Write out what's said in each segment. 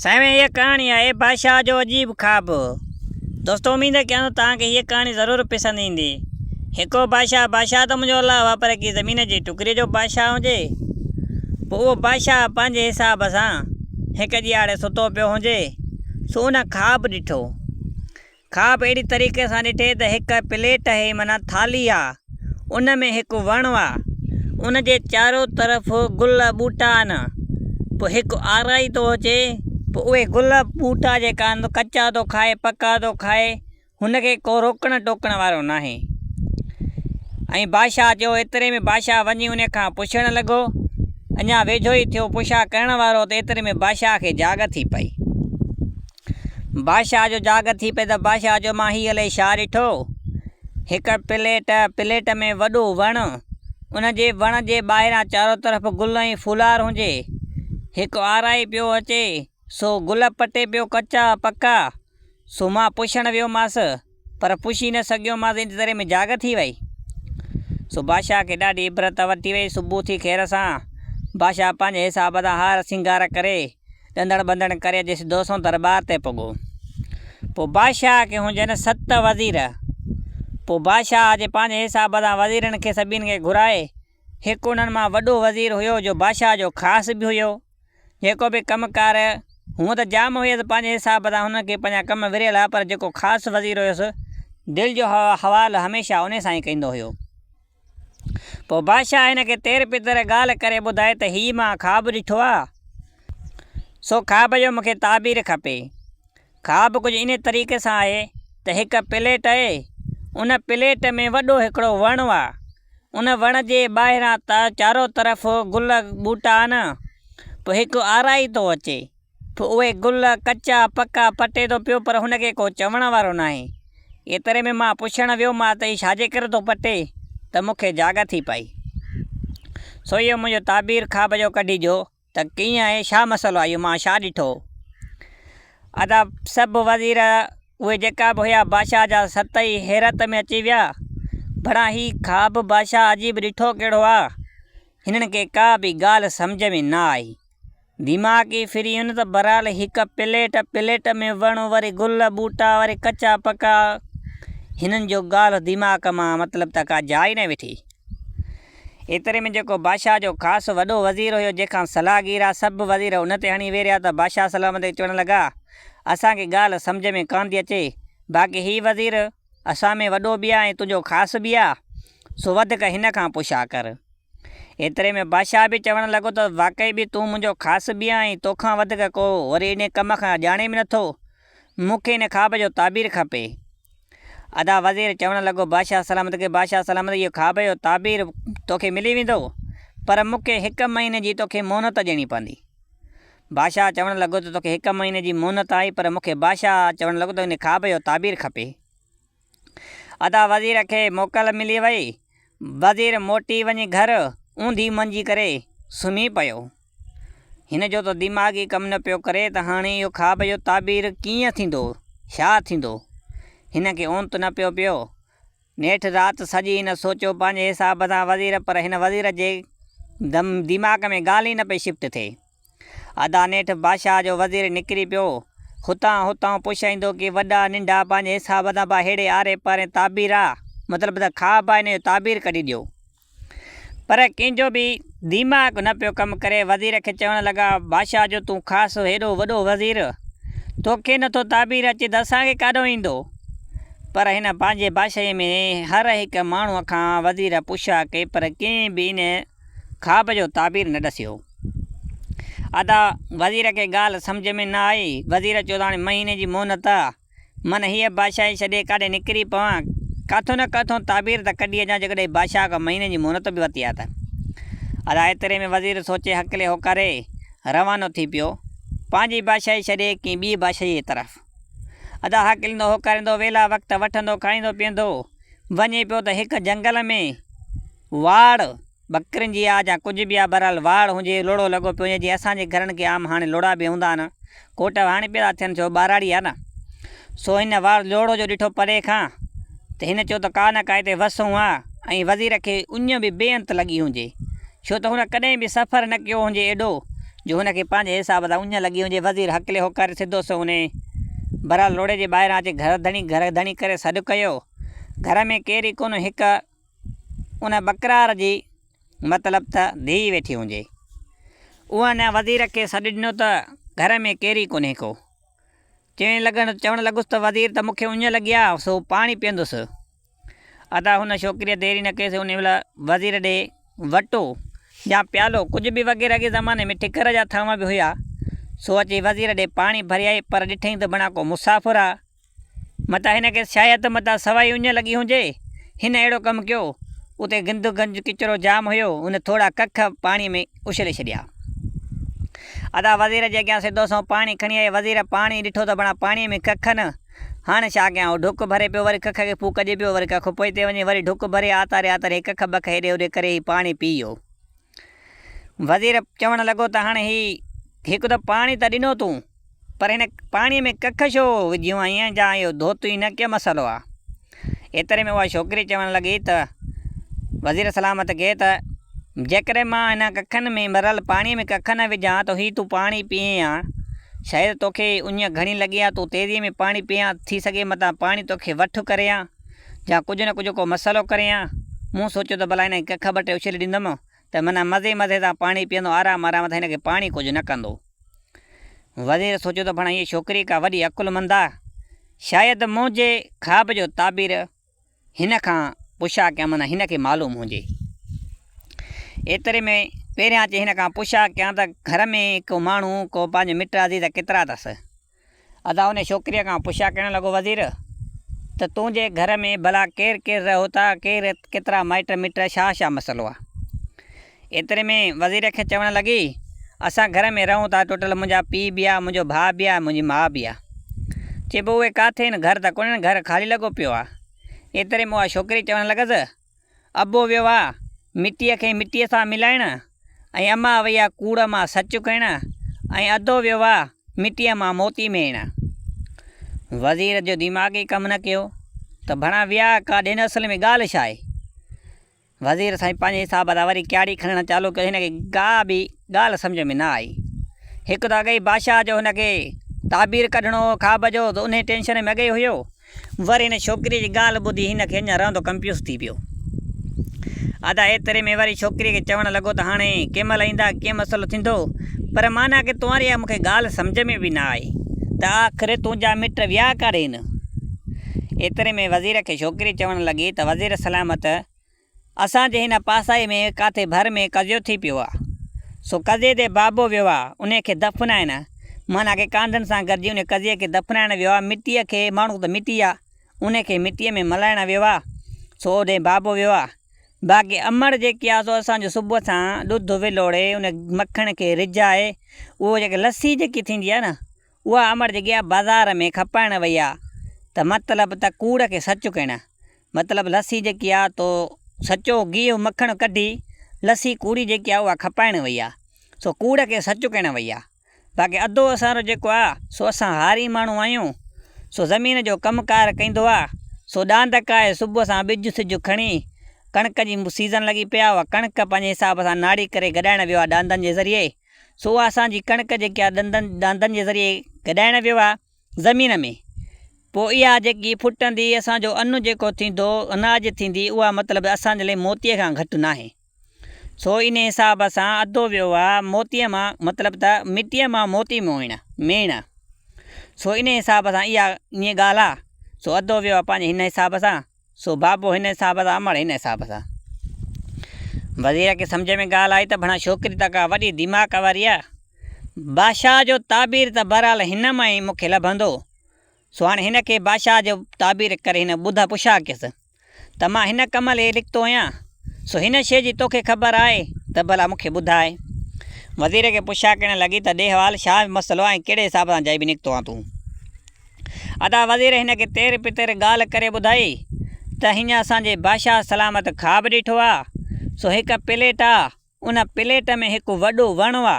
سائين هيء ڪهاڻي آهي بادشاهه جو عجيب خواب. دوستو اميد ڪيان ٿو توهان کي هيء ڪهاڻي ضرور پسند ايندي. هڪڙو بادشاهه بادشاهه ته منهنجو الله هو پر ڪي زمين جي ٽڪري جو بادشاهه هجي. پوء اهو بادشاهه پنهنجي حساب سان هڪ ڄياڙي ستو پيو هجي سو ان خواب ڏٺو. کاپ اهڙي طريقي سان ڏٺي ته هڪ پليٽ اهي معنيٰ ٿالهي آ ان ۾ هڪ وڻ آ ان جي چارو طرف گل ٻوٽا آن پوء هڪ آرائي ٿو اچي پوء اهي گل ٻوٽا جيڪا آن ڪچا ٿو کائي پڪا ٿو کائي هن کي ڪو روڪڻ ٽوڪڻ وارو ناهي ۽ بادشاهه جو ايتري ۾ بادشاهه وڃي ان کان پڇڻ لڳو اڃا ويجهو ئي ٿيو پڇا ڪرڻ وارو ته ايتري ۾ بادشاهه کي جاڳ ٿي پئي بادشاهه جو جاگر ٿي پئي ته بادشاهه چيو مان هي الائي ڇا ڏٺو، هڪ پليٽ، پليٽ ۾ وڏو وڻ، ان جي وڻ جي ٻاهران چارو طرف گل ۽ ڦولار هجي، هڪ آرائي پيو اچي، سو گل پٽي پيو ڪچا پڪا، سو مان پڇڻ ويومانس. پر پڇي نه سگهيومانس ايتري دير ۾ جاڳ ٿي وئي. سو بادشاهه کي ڏاڍي عبرت ورتي وئي. صبح ٿي خير سان بادشاهه پنهنجي حساب سان هار سينگار ڪري ڏندڻ ٻندڻ ڪري اچي سڌو سنئون درٻار تي پڳو. پوء بادشاهه کي هونجن ست وزير. پوء بادشاهه اچي پنهنجي حساب سان وزيرن کي سڀني کي گهرائي. هڪ انهن مان وڏو وزير هيو جو بادشاهه جو خاص به هيو. جيڪو به ڪم ڪار هونء ته جام هيس پنهنجي حساب سان هن کي پنهنجا ڪم وريل ها پر جيڪو خاص وزير هيس دل جو حوال هميشه انهي سان ئي ڪيندو هيو. پوء بادشاهه هن کي تير پتر ڳالهه ڪري ٻڌائي ته هي مان خواب ڏٺو آ سو خواب جو مون کي تعبير کپي. کاٻ ڪجهه انهيء طريقي سان آهي ته هڪ پليٽ اهي، ان پليٽ ۾ وڏو هڪڙو وڻ اهي، ان وڻ جي ٻاهران چارو طرف گل ٻوٽا آهن، پوء هڪ آرائي ٿو اچي، پوء اهي گل ڪچا پڪا پٽي ٿو پيو پر هن کي ڪو چوڻ وارو ناهي، ايتري ۾ مان پڇڻ ويو مان ته هي ڇاجي ڪري ٿو پٽي ته مون کي جاڳ ٿي پئي، سو اهو منهنجو تعبير کاٻ جو ڪڍي جو. ته ڪيئن آهي ڇا مسئلو آهي اهو مان ڇا ڏٺو ادا سڀ وزير اهي جيڪا به هيا بادشاهه جا ست ئي حيرت ۾ اچي ويا بڙا هي خواب بادشاهه عجيب ڏٺو ڪهڙو آ هنن کي ڪا به ڳالهه سمجهه ۾ نه آئي دماغ ئي ڦري ويو نه ته برحال هڪ پليٽ پليٽ ۾ وڻ وري گل ٻوٽا وري ڪچا پڪا هنن جو ڳالهه دماغ مان مطلب ته ڪا جاء ئي نه وٺي ايتري ۾ جيڪو بادشاهه جو خاص وڏو وزير هيو، جنهن کان صلاح گير ها، سڀ وزير ان تي هڻي ويريا ته بادشاهه سلامت کي چوڻ لڳا، اسان کي ڳالهه سمجهه ۾ ڪانه ٿي اچي، باقي هي وزير اسان ۾ وڏو به آهي ۽ تنهنجو خاص به آهي، سو وڌيڪ هن کان پڇا ڪر. ايتري ۾ بادشاهه به چوڻ لڳو ته واقعي به تون منهنجو خاص به آهين ۽ توکان وڌيڪ ڪو وري انهي ڪم کان ڄاڻي به نٿو، مون کي ان خواب جو تعبير کپي. ادا وزير چوڻ لڳو بادشاهه سلامت کي بادشاهه سلامت اهو خواب جو تعبير توکي ملي ويندو پر مون کي هڪ مهيني جي توکي مهنت ڏيڻي پوندي. بادشاهه چوڻ لڳو ته توکي هڪ مهيني جي مهنت آهي پر مون کي بادشاهه چوڻ لڳو ته ان خواب جو تعبير کپي. ادا وزير کي موڪل ملي وئي. وزير موٽي وڃي گهر اونڌي منجي ڪري سمهي پيو. هن جو ته دماغ ئي ڪم نه پيو ڪري ته هاڻي اهو خواب جو تعبير ڪيئن ٿيندو، ڇا ٿيندو؟ هن کي اونت نه پيو پيو. نيٺ رات سڄي هن سوچيو پنهنجي حساب سان وزير پر هن وزير جي دماغ ۾ ڳالهه ئي نه پئي شفٽ ٿئي. ادا نيٺ بادشاهه جو وزير نڪري پيو. هتان هتان پڇائيندو ڪي وڏا ننڍا پنهنجي حساب سان با ههڙي آري پاري تعبير آ مطلب ته خواب آ ان جو تعبير ڪڍي ڏيو. پر ڪنهن جو به ديماغ نه پيو ڪم ڪري وزير کي چوڻ لڳا بادشاهه جو تون خاص هيڏو وڏو وزير توکي نه ٿو تعبير اچي ته اسان کي ڪاڏو ايندو. پر هن پنهنجي بادشاهي ۾ هر هڪ ماڻهو کان وزير پڇا ڪئي پر ڪنهن به ان خواب جو تعبير نه ڏسيو. ادا وزير کي ڳالهه سمجهه ۾ نه آئي، وزير چيو ته هاڻي مهيني جي مهنت آ، من هيء بادشاهي ڇڏي ڪاڏي نڪري پوان، ڪاٿو نه ڪاٿو تعبير ته ڪڍي اچان، جيڪڏهن هي بادشاهه کان مهيني جي مهنت به وتي آ ته. ادا ايتري ۾ وزير سوچي هڪلي هوڪاري روانو ٿي پيو، پنهنجي بادشاهي ڇڏي ڪنهن ٻيء بادشاهيء جي طرف. ادا هاڪليندو هوڪاريندو ويلا وقت وٺندو کائيندو پيئندو وڃي پيو ته هڪ جنگل ۾. واڙ، ٻڪرين جي آ جا ڪجهه به آ بهرحال واڙ هونجي لوڙهو لڳو پيو هونجي جي اسان جي گهرن کي عام هاڻي لوڙها به هوندا آهن ڪوٽ هاڻي پيدا ٿين ٿيو ٻهراڙي آ نه سو هن واڙ لوڙهو جو ڏٺو پري کان ته هن چيو ته ڪا نه ڪا هتي وس هون آ ۽ وزير کي اڃ به بي انت لڳي هونجي ڇو ته هن ڪڏهن به سفر نه ڪيو هونجي ايڏو جو هن کي پنهنجي حساب سان اڃ لڳي هونجي وزير هڪلي هوڪاري سڌو سنئون انهي بهرحال لوڙهي جي ٻاهران اچي گهر ڌڻي گهر ڌڻي ڪري سڏ ڪيو گهر ۾ ڪير ئي ڪونه هڪ ان ٻڪرار جي مطلب ته ڌيء ويٺي هونجي. اوهان وزير کي سڏ ڏنو ته گهر ۾ ڪير ئي ڪونهي ڪو. چيڻ لڳڻ چوڻ لڳس ته وزير ته مون کي اڃ لڳي آ سو پاڻي پيئندس. ادا هن ڇوڪريء ديري نه ڪيس انهي مهل وزير ڏي وٽو يا پيالو ڪجهه به وغيره اڳي زماني ۾ ٺڪر جا ٿانوا به هيا سو اچي وزير ڏي پاڻي ڀريائين پر ڏٺئين ته بڻا ڪو مسافر آ. متان هن کي سياحيت ته متان سوائي اڃ لڳي هجي. هن اهڙو ڪم ڪيو. اتي گند گنج ڪچرو جام هيو. هن ٿورا ڪک پاڻي ۾ اڇلي ڇڏيا. ادا وزير جي اڳيان سڌو سنئون پاڻي کڻي آئي. وزير پاڻي ڏٺو ته بڻا پاڻي ۾ ڪک نه. هاڻ ڇا ڪيان. هو ڍڪ ڀري پيو. وري ڪک کي ڦوڪ ڏئي پيو. وري ڪک پوئتي وڃي. وري ڍڪ ڀري آتاري آتاري هي ڪک بک هيڏي هوڏي ڪري هي پاڻي پي ويو. وزير چوڻ لڳو ته هاڻ هي هڪ ته پاڻي ته ڏنو تون. پر هن پاڻي ۾ ڪک ڇو وجهيون آهين جا اهو ڌوتو ئي نه ڪي مسئلو آ. ايتري ۾ اها ڇوڪري چوڻ لڳي ته وزير سلامت کي ته جيڪڏهن مان هن ڪکن ۾ ڀريل پاڻي ۾ ڪک نه وجهان ته هي تون پاڻي پيئين ها شايد توکي اڃ گهڻي لڳي ها تون تيزي ۾ پاڻي پيئين ها ٿي سگهي متان پاڻي توکي وٺ ڪري ها جا ڪجهه نه ڪجهه ڪو مسئلو ڪري ها مون سوچيو ته ڀلا هن کي ڪک ٻه ٽي اڇلي ڏيندم ته منهن مزي مزي سان پاڻي پيئندو آرام آرام سان هن کي پاڻي ڪجهه نه ڪندو. وزير سوچيو ته ڀڻا هيء ڇوڪري ڪا وڏي عقلمند آ، شايد منهنجي خواب جو تعبير هن کان پڇا ڪيان معنيٰ هن کي معلوم هجي. ايتري ۾ پهريان اچي هن کان پڇا ڪيان ته گهر ۾ ڪو ماڻهو ڪو پنهنجو مٽ عزيز ڪيترا اٿس؟ ادا انهي ڇوڪريء کان پڇا ڪرڻ لڳو وزير! ته تنهنجي گهر ۾ ڀلا ڪير ڪير رهو ٿا، ڪير ڪيترا مائٽ مٽ، ڇا ڇا مسئلو آ؟ ايتري ۾ وزير کي چوڻ لڳي، اسان گهر ۾ رهون ٿا ٽوٽل منهنجا پيء به آ، منهنجو ڀاء به آ، منهنجي ماء به آ. چئبو اهي ڪاٿي هن گهر ته ڪونهن، گهر خالي لڳو پيو آ. ايتري ۾ اها ڇوڪري چوڻ لڳس، ابو ويو آ مٽيء کي مٽيء سان ملائڻ ۽ اما وئي آ ڪوڙ مان سچ ڪهڻ ۽ ادو ويو آ مٽيء مان موتي ميڻ. وزير جو ديماغ ئي ڪم نه ڪيو ته ڀڻا ويا ڪا ڏين اصل ۾ ڳالهه ڇا آهي. وزير سائين پنهنجي حساب سان وري ڪياڙي کڻڻ چالو ڪيو هن کي ڪا به ڳالهه سمجهه ۾ نه آئي. هڪ ته اڳيئي بادشاهه جو هن کي تعبير ڪڍڻو هو خواب جو ته انهيء ٽينشن ۾ اڳيئي هيو وري ان ڇوڪريء جي ڳالهه ٻڌي هن کي اڃا رئندو ڪنپيوز ٿي پيو. ادا ايتري ۾ وري ڇوڪريء کي چوڻ لڳو ته هاڻي ڪنهن مهل ايندا ڪيئن مسئلو ٿيندو پر معنيٰ ڪي توهان ري اها مون کي ڳالهه سمجهه ۾ به نه آئي ته آخر تنهنجا مٽ ويا ڪاڏين. ايتري ۾ وزير کي ڇوڪري چوڻ لڳي ته وزير سلامت! اسان جي هن پاسائي ۾ ڪاٿي ڀر ۾ قضيو ٿي پيو آ، سو قضيي تي بابو ويو آ، انهيء کي دفنائڻ معنيٰ ڪي ڪانڌن سان گڏجي انهيء قضيي کي دفنائڻ ويو آ، مٽيء کي، ماڻهو ته مٽي آ، انهيء کي مٽيء ۾ ملائڻ ويو آ، سو اوڏي بابو ويو آ، باقي امڙ جيڪي آ، سو اسان جو صبح سان ڏڌ ولوڙي، ان مکڻ کي رجائي، اهو جيڪي لسي جيڪي ٿيندي آ نه، اها امڙ جيڪي آ، بازار ۾ کپائڻ وئي آ، ته مطلب ته ڪوڙ کي سچ ڪهڻ، مطلب لسي جيڪي آ تو سچو گيهه مکڻ ڪڍي لسي ڪوڙي جيڪي آ اها کپائڻ وئي آ سو ڪوڙ کي سچ ڪهڻ وئي آ باقي ادو اسان رو جيڪو آ سو اسان هاري ماڻهو آهيون سو زمين جو ڪم ڪار ڪيندو آ سو ڏاند کائي صبح سان ٻج سج کڻي ڪڻڪ جي سيزن لڳي پئي آ اها ڪڻڪ پنهنجي حساب سان ناڙي ڪري گڏائڻ ويو آ ڏاندن جي ذريعي سو اها اسان جي ڪڻڪ جيڪي آ ڏندن ڏاندن جي ذريعي گڏائڻ ويو آ زمين ۾، پوء اها جيڪي ڦٽندي، اسان جو ان جيڪو ٿيندو، اناج ٿيندي، اها مطلب اسان جي لاء موتيء کان گهٽ ناهي. سو انهيء حساب سان اڌو ويو آهي، موتيء مان، مطلب ته مٽيء مان موتي موهڻ، ميڻ. سو انهيء حساب سان اها ائين ڳالهه آهي، سو اڌو ويو آهي پنهنجي هن حساب سان. سو بابو هن حساب سان امڙ هن حساب سان. وزير کي سمجهه ۾ ڳالهه آئي ته ڀڻا ڇوڪري ته ڪا وڏي دماغ واري آ. بادشاهه جو تعبير ته بهرحال هن مان ئي مون کي لڀندو. سو هاڻي هن کي بادشاهه جو تعبير ڪري هن ٻڌ پڇا ڪيس ته مان هن ڪم لئي لکتو هيان. سو هن شيء جي توکي خبر آهي ته ڀلا مون کي ٻڌاء. وزير کي پڇا ڪرڻ لڳي ته ڏي حوال شاهه مسئلو ۽ ڪهڙي حساب سان جائبي نڪتو هان تون. ادا وزير هن کي تير پتير ڳالهه ڪري ٻڌائي ته هينئن اسان جي بادشاهه سلامت خواب ڏٺو آ سو هڪ پليٽ آ ان پليٽ ۾ هڪ وڏو وڻ آ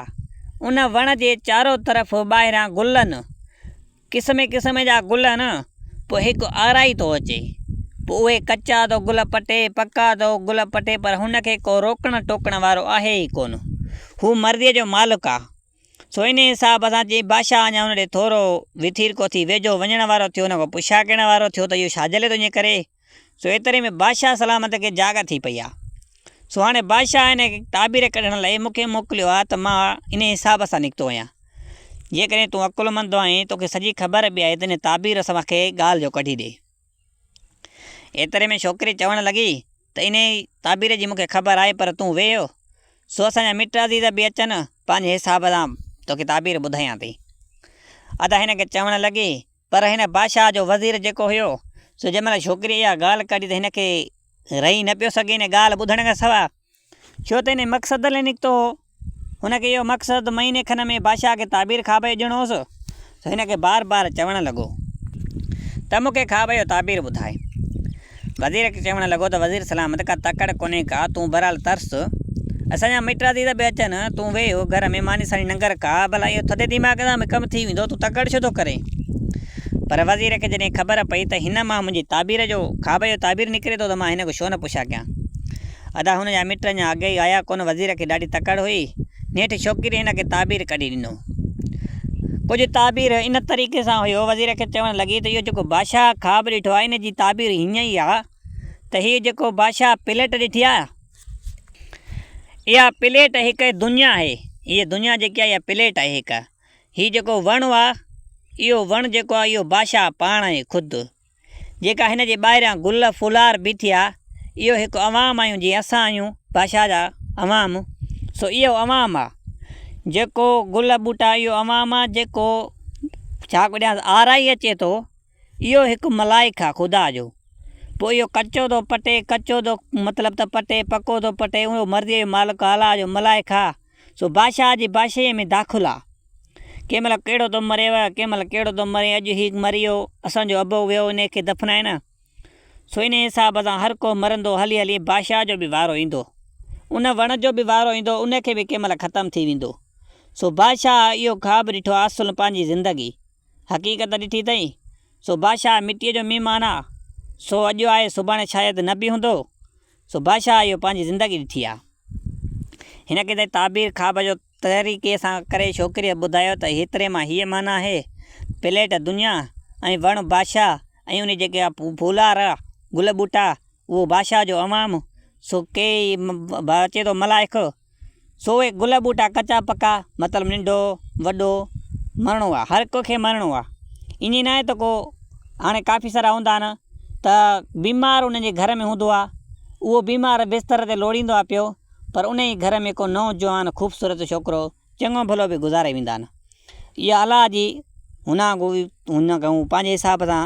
ان وڻ جي چارو طرف ٻاهران گل ان قسمي قسمي جا گل ان پو هڪ آرائي ٿو اچي پو اهي ڪچا ٿو گل پٽي پڪا ٿو گل پٽي پر هن کي ڪو روڪڻ ٽوڪڻ وارو آهي ئي ڪون هو مرضي جو مالڪ آ. سوئني صاحب اسان چيائين بادشاهه اڃا ان ڏي ٿورو وٿير ڪو ٿي ويجهو وڃڻ وارو ٿيو نه ڪو پڇا ڪرڻ وارو ٿيو ته اهو ڇاجهلي تنهنجي ڪري سو ايتري ۾ بادشاهه سلامت کي جاڳ ٿي پئي آ سو هاڻي بادشاهه هن کي تعبير ڪڍڻ لئي مون کي موڪليو آ ته مان انهي حساب سان نڪتو آهيان جيڪڏهن تون عقلمند آهين توکي سڄي خبر به آهي ته هن تعبير سان مون کي ڳالهه جو ڪڍي ڏي. ايتري ۾ ڇوڪري چوڻ لڳي ته انهيء تعبير جي مون کي خبر آهي پر تون ويهه، سو اسان جا مٽ عزيز به اچن، پنهنجي حساب سان توکي تعبير ٻڌايان ٿي. ادا هن کي چوڻ لڳي، پر هن بادشاهه جو وزير جيڪو هيو، سو جنهن مهل ڇوڪريء اها ڳالهه ڪڍي ته هن کي رهي نه پيو سگهي، انهيء ڳالهه ٻڌڻ کان سواء، ڇو ته انهيء مقصد لاء نڪتو هو. هن کي اهو مقصد مهيني کن ۾ بادشاهه کي تعبير کاٻيء ڏيڻو هوس سو هن کي بار بار چوڻ لڳو ته مون کي خواب جو تعبير ٻڌاء. وزير کي چوڻ لڳو ته وزير سلامت ڪا تڪڙ ڪونهي ڪا، تون بهرحال ترس. اسان جا مٽ عزيز به اچن، تون ويهه گهر ۾ ماني ساڻي ننگر ڪاء، ڀلا اهو ٿڌي ديماغ سان به ڪم ٿي ويندو، تون تڪڙ ڇو ٿو ڪرين؟ پر وزير کي جڏهن خبر پئي ته هن مان منهنجي تعبير جو، خواب جو تعبير نڪري ٿو ته مان هن کي ڇو نه پڇا ڪيان. ادا هن جا مٽ اڃا اڳ ئي آيا ڪونه وزير کي ڏاڍي تڪڙ هئي نيٺ ڇوڪري هن کي تعبير ڪڍي ڏنو ڪجهه تعبير ان طريقي سان هئي هو وزير کي چوڻ لڳي ته اهو جيڪو بادشاهه خواب ڏٺو آهي ان جي تعبير هيئن ئي آهي ته هي جيڪو بادشاهه پليٽ ڏٺي آهي اها پليٽ هڪ دنيا آهي هيء دنيا جيڪي آهي اها پليٽ آهي هڪ هي جيڪو وڻ آهي اهو وڻ جيڪو آهي اهو بادشاهه پاڻ آهي خود جيڪا هن جي ٻاهريان گل ڦولار بيٺي آ، اهو هڪ عوام آهيون جيئن اسان آهيون باشا جا عوام، سو اهو عوام آ، جيڪو گل ٻوٽا اهو عوام آ، جيڪو ڇا ڪڏهانس آرائي اچي ٿو، اهو هڪ ملائڪ آ خدا جو، پوء اهو ڪچو ٿو پٽي، ڪچو ٿو مطلب ته پٽي، پڪو ٿو پٽي، اهو مرضيء جو مالڪ آ، الله جو ملائڪ آ. سو بادشاهه جي بادشاهيء ۾ داخل آ. ڪنهن مهل ڪهڙو ٿو مريو، ڪنهن مهل ڪهڙو ٿو مري، اڄ هي مري ويو، اسان جو ابو ويو انهيء کي دفنائي نه. سو انهيء حساب سان هر ڪو مرندو، هلي هلي بادشاهه جو به وارو ايندو. ان وڻ جو به وارو ايندو، ان کي به ڪنهن مهل ختم ٿي ويندو. سو بادشاهه اهو خواب ڏٺو آ، اصل پنهنجي زندگي، حقيقت ڏٺي اٿئي. سو بادشاهه مٽيء جو مهمان آ، سو اڄ آهي سڀاڻي شايد نه به هوندو. سو بادشاهه اهو پنهنجي زندگي ڏٺي آ. هن ڪنهن تائين تعبير خواب جو طريقي سان ڪري ڇوڪريء کي ٻڌايو ته هيتري مان هيء معنيٰ آهي، پليٽ دنيا ۽ وڻ بادشاهه ۽ انهي جي جيڪي ڦولار آ، گل ٻوٽا، اهو بادشاهه جو عوام، سو ڪي ئي اچي ٿو ملائڪ، سو اهي گل ٻوٽا ڪچا پڪا مطلب ننڍو وڏو مرڻو آ هر ڪو کي مرڻو آ ائين ناهي ته ڪو هاڻي ڪافي سارا هوندا آهن ته بيمار ان جي گهر ۾ هوندو آ اهو بيمار بستر تي لوڙيندو آ پيو پر ان جي گهر ۾ ڪو نوجوان خوبصورت ڇوڪرو چڱو ڀلو به گذاري ويندا آهن اها الله جي هنا گوئي هنا گئون پنهنجي حساب سان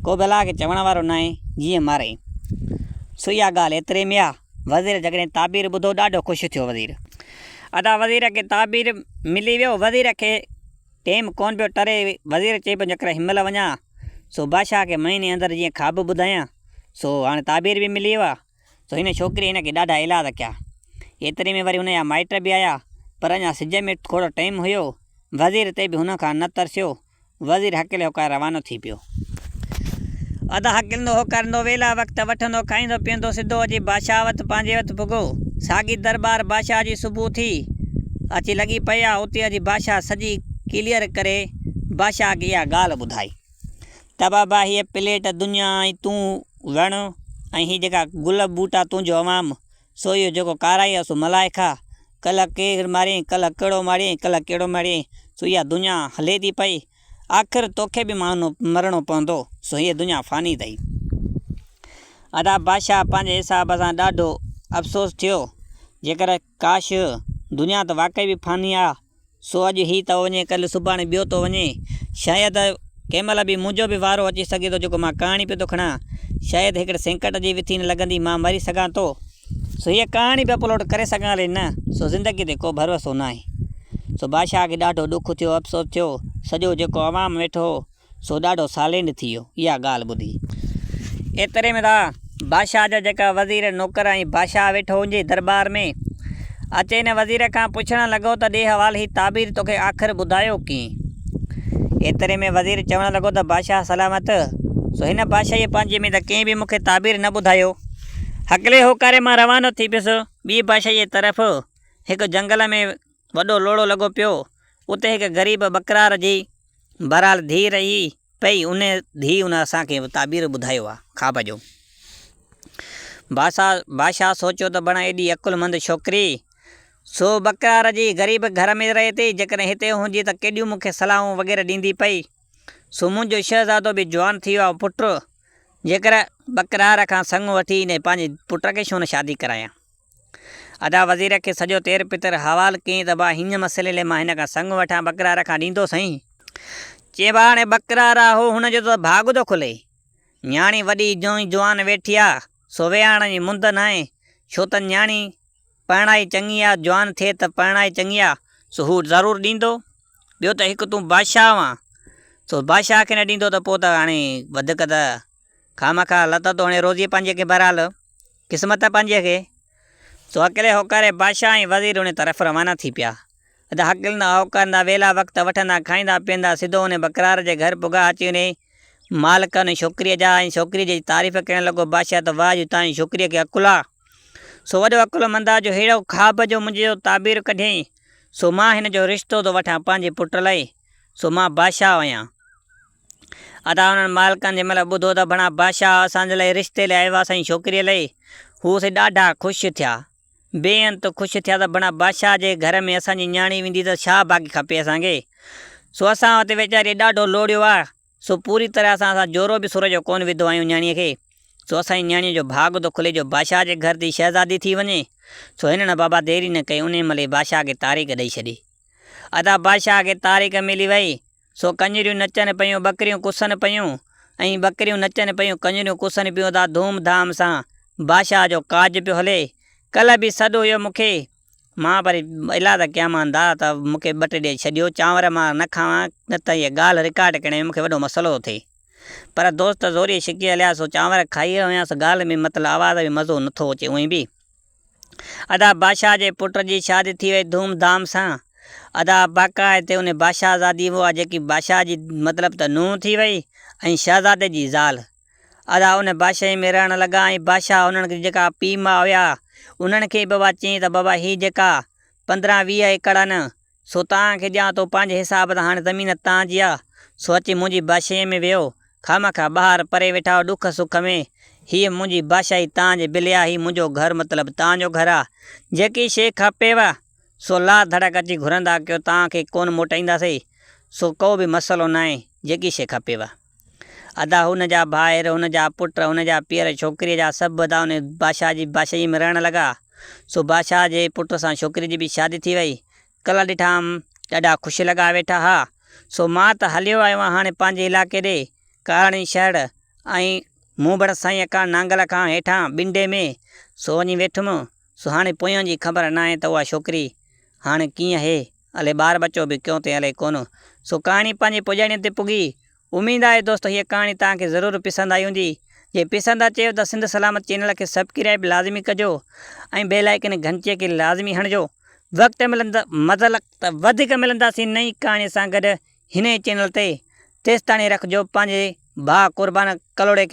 ڪوبه الله کي چوڻ وارو ناهي جيئن مارئي سو اها ڳالهه ايتري ۾ آهي وزير جڏهن تعبير ٻڌو ڏاڍو خوش ٿيو وزير ادا وزير کي تعبير ملي ويو وزير کي ٽيم ڪون پيو ٽري وزير چئي پيو جيڪر هنمهل وڃان سو بادشاهه کي مهيني اندر جيئن خواب ٻڌايان سو هاڻي تعبير به ملي ويو آهي سو هن ڇوڪريء هن کي ڏاڍا ايلاز ڪيا. ايتري ۾ وري هن جا مائٽ به آيا، پر اڃا سج ۾ ٿورو ٽيم هيو. وزير تي به هن کان نه ترسيو. وزير هڪلي هوڪاري روانو ٿي پيو. ادا هڪلندو هوڪاريندو ويلا وقت وٺندو کائيندو پيئندو سڌو اچي بادشاهه وٽ پنهنجي وٽ پڳو. ساڳي درٻار بادشاهه جي صبح ٿي اچي لڳي پئي آ. اتي اچي بادشاهه سڄي ڪليئر ڪري بادشاهه کي اها ڳالهه ٻڌائي. ته بابا هيء پليٽ دنيا ۽ تون وڻ ۽ هي جيڪا گل ٻوٽا تون جو عوام، سو اهو جيڪو ڪارائي آ سو ملائي کا، ڪلهه ڪير ماريئي، ڪلهه ڪهڙو ماريئي، ڪلهه ڪهڙو ماريئي، سو اها دنيا هلي ٿي پئي، آخر توکي به مارڻو مرڻو پوندو، سو هيء دنيا فاني اٿئي. ادا بادشاهه پنهنجي حساب سان ڏاڍو افسوس ٿيو، جيڪر ڪاش! دنيا ته واقعي به فاني آ، سو اڄ هي ٿو وڃي ڪل سڀاڻي ٻيو ٿو وڃي. شايد ڪنهن مهل به منهنجو به وارو اچي سگهي ٿو جيڪو مان ڪهاڻي پيو ٿو کڻان. شايد هڪڙي سينڪٽ جي وٿين لڳندي مان مري سگهان ٿو. سو هيء ڪهاڻي به اپلوڊ ڪري سگهان علي نه. سو زندگي تي ڪو ڀروسو ناهي. سو بادشاهه کي ڏاڍو ڏک ٿيو، افسوس ٿيو. سڄو جيڪو عوام ويٺو هو. سو ڏاڍو سالينڊ ٿي ويو اها ڳالهه ٻڌي. ايتري ۾ ته بادشاهه جا جيڪا وزير، نوڪر ۽ بادشاهه ويٺو هو ان جي درٻار ۾، اچي هن وزير کان پڇڻ لڳو ته ڏي حوال هي تعبير توکي آخر ٻڌايو ڪئين؟ ايتري ۾ وزير چوڻ لڳو ته بادشاهه سلامت، سو هن بادشاهيء پنهنجي ۾ ته ڪنهن به مون کي تعبير نه ٻڌايو. هڪلي هوڪاري مان روانو ٿي پيس ٻيء بادشاهيء طرف، هڪ جهنگل ۾. وڏو لوڙهو لڳو پيو. اتي هڪ غريب ٻڪرار جي بهرحال ڌيء رهي پئي. ان ڌيء ان اسان کي تعبير ٻڌايو آ خواب جو. باسا بادشاهه سوچيو ته بڻ ايڏي عقلمند ڇوڪري سو ٻڪرار جي غريب گهر ۾ رهي ٿي. جيڪڏهن هتي هوندي ته ڪيڏيون مون کي صلاحون وغيره ڏيندي پئي. سو منهنجو شهزادو به جوان ٿي ويو آ پٽ. جيڪر ٻڪرار کان سڱ وٺي انهيء پنهنجي پٽ کي ڇو نه شادي ڪرايان. ادا وزير کي سڄو تير پتر حوال ڪين ته ڀا هن مسئلي لئي مان هن کان سڱ وٺان ٻڪرا رکان ڏيندو سائين. چئين ڀا هاڻي ٻڪرا راهو هن جو ته ڀاڳ ٿو کلي. نياڻي وڏي جونء جوان ويٺي آ سو ويهاڻڻ جي مند ناهي ڇو ته نياڻي پرڻائي چڱي آ جوان ٿئي ته پرڻائي چڱي آ سو هو ضرور ڏيندو ٻيو ته هڪ تون بادشاهه آن سو بادشاهه کي نه ڏيندو ته پوء ته هاڻي وڌيڪ ته خامخا لت توڻي روزي پنهنجي کي بهرحال قسمت پنهنجي کي. سو اڪيلي هوڪاري بادشاهه ۽ وزير انهي طرف روانا ٿي پيا. ادا هڪلندا هوڪارندا ويلا وقت وٺندا کائيندا پيئندا سڌو انهي بڪرار جي گهر پگها اچي انهي مالڪ انهي ڇوڪري جا ۽ ڇوڪري جي تعريف ڪرڻ لڳو بادشاهه ته واهه جو تانجي ڇوڪري کي عقل آ سو وڏو عقل مند آ جو ههڙو خواب جو منهنجي جو تعبير ڪڍيئين سو مان هن جو رشتو ٿو وٺان پنهنجي پٽ لئي سو مان بادشاهه هيان. ادا انهن مالڪن جنهن مهل ٻڌو ته بڻا بادشاهه اسان جي لاء رشتي لي آيو آهي اسان جي ڇوڪريء لئي، هو سي ڏاڍا خوش ٿيا. بي انت خوش ٿيا ته بڻا بادشاهه جي گهر ۾ اسان جي نياڻي ويندي ته ڇا باقي کپي اسان کي. سو اسان اتي ويچاريء ڏاڍو لوڙيو آ. سو پوري طرح سان اسان جورو به سور جو ڪونه وڌو آهيون نياڻيء کي. سو اسان جي نياڻيء جو ڀاڳ ٿو کلي جو بادشاهه جي گهر ٿي شهزادي ٿي وڃي. سو هنن بابا ديري نه ڪئي انهيء مهل ئي بادشاهه کي تاريخ ڏئي ڇڏي. ادا بادشاهه کي تاريخ ملي وئي. سو ڪڃريون نچن پيون ٻڪريون ڪسن پيون ۽ ٻڪريون نچن پيون ڪڃريون ڪسن پيون ادا ڌوم ڌام سان بادشاهه جو ڪاڄ پيو هلي ڪلهه به سڏ هيو مون کي مان پر الا ته ڪيان مان دا ته مون کي ٻٽ ڏئي ڇڏيو چانور مان نه کاوان نه ته هيء ڳالهه رڪارڊ ڪرڻ ۾ مون کي وڏو مسئلو ٿو ٿئي پر دوست زوريء ڇڪي هليا سو چانور کائي رهيو هيان سو ڳالهه ۾ مطلب آواز ۾ مزو نه ٿو اچي اونئين به ادا بادشاهه جي پٽ جي شادي ٿي وئي ڌوم ڌام سان ادا باقا هتي ان بادشاهه زادي هئا جيڪي بادشاهه جي مطلب ته نونهن ٿي وئي ۽ شهزادي جي زال ادا ان بادشاهي ۾ رهڻ لڳا ۽ بادشاهه انهن جي جيڪا پيء ماء هيا انهن کي بابا چيائين ته بابا هي جيڪا پندرهن ويهه ايڪڙ آهن سو توهان کي ڏيان ٿو پنهنجي حساب سان هاڻي زمين توهان جي آ سو اچي منهنجي بادشاهي ۾ ويهو خامخا ٻاهر پري ويٺا آهيو ڏک سک ۾ هيء منهنجي بادشاهي توهان جي بلي آ هي منهنجو گهر مطلب توهان جو گهر آ جيڪي شيء کپيو سو لا ڌڙڪ اچي گهرندا ڪيو توهان کي ڪونه موٽائينداسي سو ڪو به مسئلو ناهي جيڪي شيء کپيو. ادا هن جا ڀائر، هن جا پٽ، هن جا پيئر، ڇوڪريء جا سڀ ادا ان بادشاهه جي بادشاهيء ۾ رهڻ لڳا. سو بادشاهه جي پٽ سان ڇوڪريء جي به شادي ٿي ويئي. ڪلا ڏٺائم، ڏاڍا خوش لڳا ويٺا ها. سو مان ته هليو آيو آهيان هاڻي پنهنجي علائقي ڏي، ڪاراڻي شهر ۽ مونڀڙ سائين اڪاڻ نانگل کان هيٺان بنڊي ۾. سو وڃي ويٺم. سو هاڻي پويان جي خبر ناهي ته اها ڇوڪري هاڻ ڪيئن اهي. الي ٻار ٻچو به ڪيون تي الي ڪونه. سو ڪهاڻي پنهنجي پڄاڻيء تي پڳي. اميد آهي دوستو هيء ڪهاڻي توهان کي ضرور پسند آئي هوندي. جي پسند اچي هو ته سنڌ سلامت چينل کي سبڪرائيب لازمي ڪجو ۽ بيل آئيڪن گهنٽيء کي لازمي هڻجو. وقت ملندو مزل ته وڌيڪ ملنداسين نئين ڪهاڻيء سان گڏ هن ئي چينل تي. تيستاڻي رکجو پنهنجي ڀاء قربان ڪلهوڙي کي.